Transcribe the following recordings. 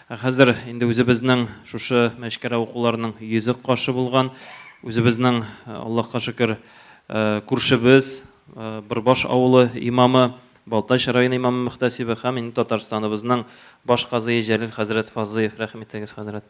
Ә хәзер инде үзебезнең шушы мәчкәрә укуларының йөзек кашы булган, үзебезнең, Аллаһка шөкер, күршебез, Бырбаш авылы имамы, Балтач районы имамы-мөхтәсибе һәм инде Татарстаныбызның баш казые Җәлил хәзрәт Фазлыев, рәхим итегез, хәзрәт.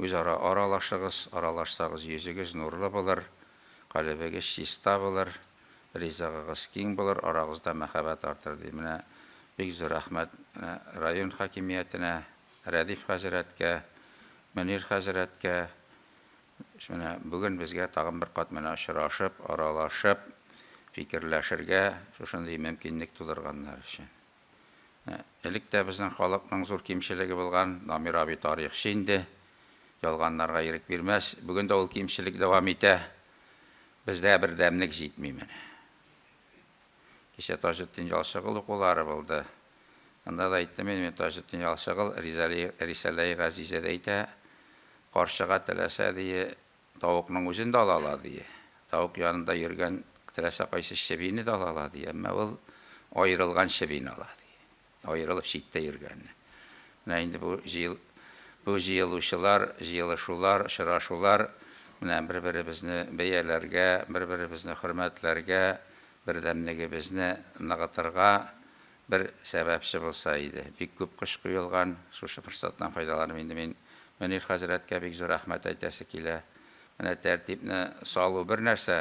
Үзара аралашыгыз, аралашсагыз, йөзегез нурлы булыр, калебегез чиста булыр, ризыгыгыз киң булыр, арагызда мәхәббәт артыр, ди. Менә бик зур рәхмәт менә район хакимиятенә, Рәдиф хәзрәткә, Мөнир хәзрәткә, менә бүген безгә тагын бер кат менә очрашып, аралашып, фикерләшергә шушындый мөмкинлек тудырганнар өчен. Элек тә безнең халыкның зур кимчелеге булган, Дамир абый тарихчы инде, ялганнарга ирек бирмәс. Бүген дә ул кимчелек дәвам итә. Бездә бердәмлек җитми менә. Кичә Таҗетдин Ялчыгыл укулары булды. Анда да әйттем инде мин, Таҗетдин Ялчыгыл Рисаләи Газизәдә әйтә, карчыга теләсә, дие, Тавыкның үзен дә алалар, ди. Тавык янында йөргән теләсә кайсы чебине дә алалар, ди. Әмма ул аерылган чебине ала, ди. Аерылып читтә йөргәнне. Менә инде бу җыел, бу җыелучылар, җыелышулар, очрашулар менә бер-беребезне бәяләргә, бер-беребезне хөрмәтләргә, бердәмлегебезне ныгытырга, Бер сәбәпче булса иде. Бик күп кыш коелган, шушы форсаттан файдаланып инде мин Мөнир хәзрәткә бик зур рәхмәт әйтәсе килә. Менә тәртипне салу бер нәрсә,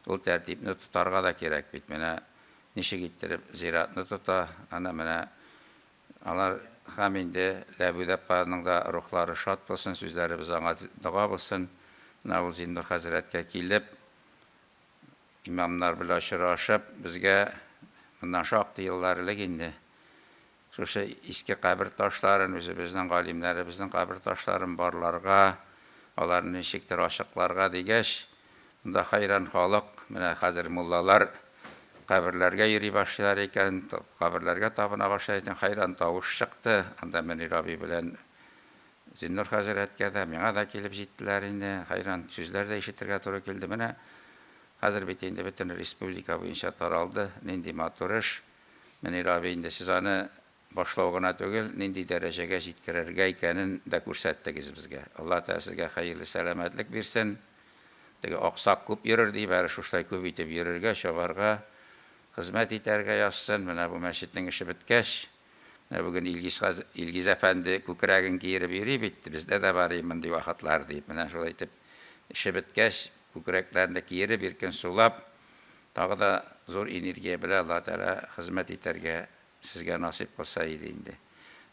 ул тәртипне тотарга да кирәк бит. Менә ничек иттереп зиратны тота, аны менә алар һәм инде Ләбүд апаның да рухлары шат булсын, сүзләребез аңа дога булсын. Менә ул Зиннур хәзрәткә килеп, Имамнар белән очрашып, безгә моннан шактый еллар элек инде шушы иске кабер ташларын, үзебезнең галимнәребезнең кабер ташларын барларга, аларны ничектер ачыкларга дигәч, монда хәйран халык, менә хәзер муллалар каберләргә йөри башлыйлар икән, каберләргә табына башлыйлар икән, хәйран тавыш чыкты. Анда Мөнир абый белән Зиннур хәзрәткә дә, миңа да килеп җиттеләр инде, хәйран сүзләр дә ишетергә туры килде. Менә хәзер бит инде бөтен республика буенча таралды, нинди матур эш. Мөнир абый инде сез аны башлау гына түгел, нинди дәрәҗәгә җиткерергә икәнен дә күрсәттегез безгә. Алла Тәгалә сезгә хәерле сәламәтлек бирсен. Теге аксак күп йөрер, диеп, әле шуштай күп итеп йөрергә, чабарга, хезмәт итәргә язсын. Менә бу мәчетнең эше беткәч. Менә бүген Илгиз Илгиз әфәнде күкрәген киереп йөри бит, бездә дә бар и мондый вакытлар, диеп, менә шулай итеп, эше беткәч, күкрәкләрен дә киереп, иркен сулап, тагы да зур энергия белән Алла Тәгалә хезмәт итәргә сезгә насыйп кылса иде инде.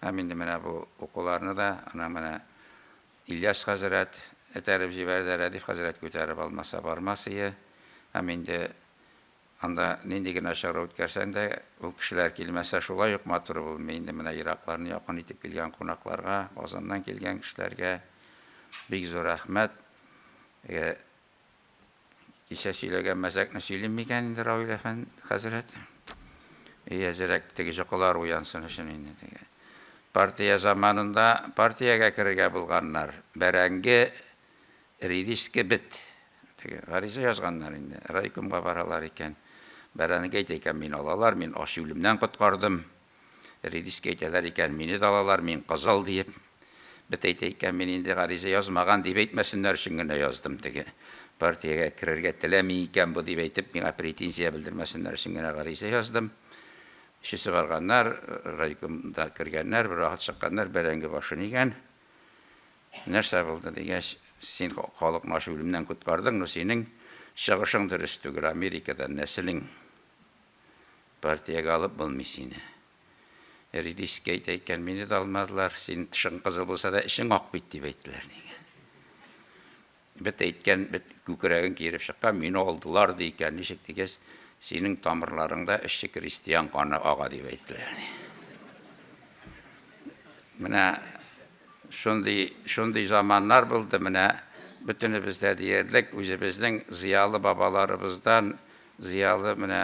Һәм инде менә бу укуларны да ана менә Ильяс хәзрәт этәреп җибәрде, Рәдиф хәзрәт күтәреп алмаса бармас ие. Һәм инде Анда нинди генә чара үткәрсәң дә, ул кешеләр килмәсә, шулай ук матур булмый инде. Менә еракларны якын итеп килгән кунакларга, Казаннан килгән кешеләргә бик зур рәхмәт. Әгә кичә сөйләгән мәзәкне сөйлим микән инде Равил әфән хәзрәт? И әзерәк теге җокылар уянсын өчен инде теге. Партия заманында партиягә керергә булганнар, бәрәңге Редиска бет. Теге гариза язганнар инде. Райкомга баралар икән. Бәрәнеке әйтә икән, мин алалар, мин ач үлемнән коткардым. Редиска әйтәләр икән, мине дә алалар, мин кызыл диеп. Бет әйтә икән, мин инде гариза язмаган дип әйтмәсеннәр өчен генә яздым. Теге партиягә керергә теләми икән бу дип әйтеп, миңа претензия белдермәсеннәр өчен генә гариза яздым. Өчесе барганнар, райкомда кергәннәр, бервакыт чыкканнар, бәрәңге башын игән. Нәрсә булды дигәч, син калыкмаш үлемнән коткардың, но синең чыгышың дөрес түгел, Америкадан нәселең партиягә алып булмый сине. Редиска әйтә икән, мине дә алмадылар, синең тышың кызыл булса да, эчең ак бит, дип әйттеләр, дигән. Бет әйткән, бет күкрәген киереп чыккан, мине алдылар, ди икән. Ничек дигәч, синең тамырларыңда эшче крестьян каны ага, дип әйттеләр. Менә шундый, шундый заманнар булды, менә бөтенебез дә диярлек үзебезнең зыялы бабаларыбыздан, зыялы менә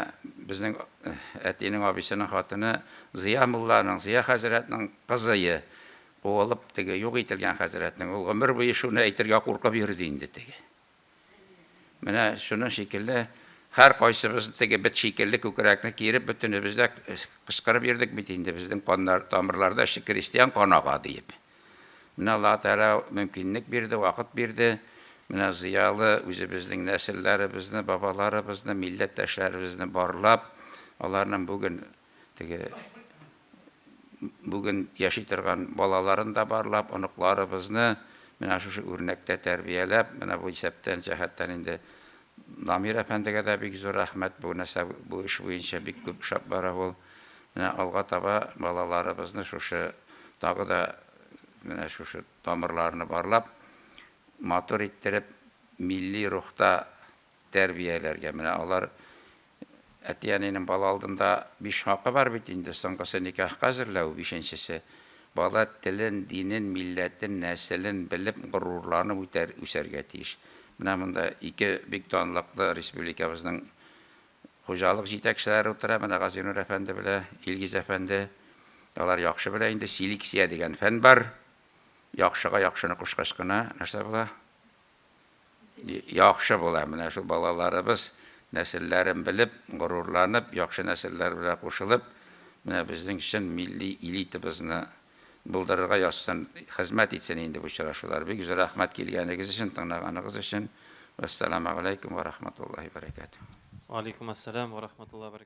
безнең э, әтинең абысының хатыны Зыя мулланың, Зыя хәзрәтнең кызые. Куылып, теге юк ителгән хәзрәтнең, ул гомер буе шуны әйтергә куркып йөрде инде теге. Менә шуның шикелле һәр кайсыбыз теге бит шикелле күкрәкне киереп бөтенебез дә кычкырып йөрдек бит инде безнең каннар тамырларда эше крестьян канага диеп. Менә Алла Тәгалә мөмкинлек бирде, вакыт бирде. Менә зыялы үзебезнең нәселләребезне, бабаларыбызны, милләттәшләребезне барлап, аларның бүген Теге бүген яши торган балаларын да барлап, оныкларыбызны менә шушы үрнәктә тәрбияләп, менә бу исәптән, җәһәттән инде Дамир әфәндегә дә бик зур рәхмәт. Бу нәрсә бу эш буенча бик күп эшләп бара ул. Менә алга таба балаларыбызны шушы тагы да менә шушы тамырларны барлап, матур иттереп, милли рухта тәрбияләргә. Менә алар әти-әнинең бала алдында биш хакы бар бит инде, соңгысы никахка әзерләү, бишенчесе, бала телен, динен, милләтен, нәселен белеп, горурланып үтәр, үсәргә тиеш. Менә монда ике бик данлыклы республикабызның хуҗалык җитәкчеләре утыра, менә Газинур әфәнде белә Илгиз әфәнде. Алар яхшы белә инде, селексия дигән фән бар. Яхшыга яхшыны кушкач кына нәрсә була? Яхшы була, менә шул балаларыбыз нәселләрен белеп, горурланып, яхшы нәселләр белән кушылып, менә безнең чын милли элитабызны булдырырга язсын, хезмәт итсен инде бу очрашулар. Бик зур рәхмәт килгәнегез өчен, тыңлаганыгыз өчен. Вәссәламәгаләйкүм вә рахматуллаһи вә бәрәкәтүһ. Вәаләйкүмәссәлам вә рахматуллаһи вә бәрәкәтүһ.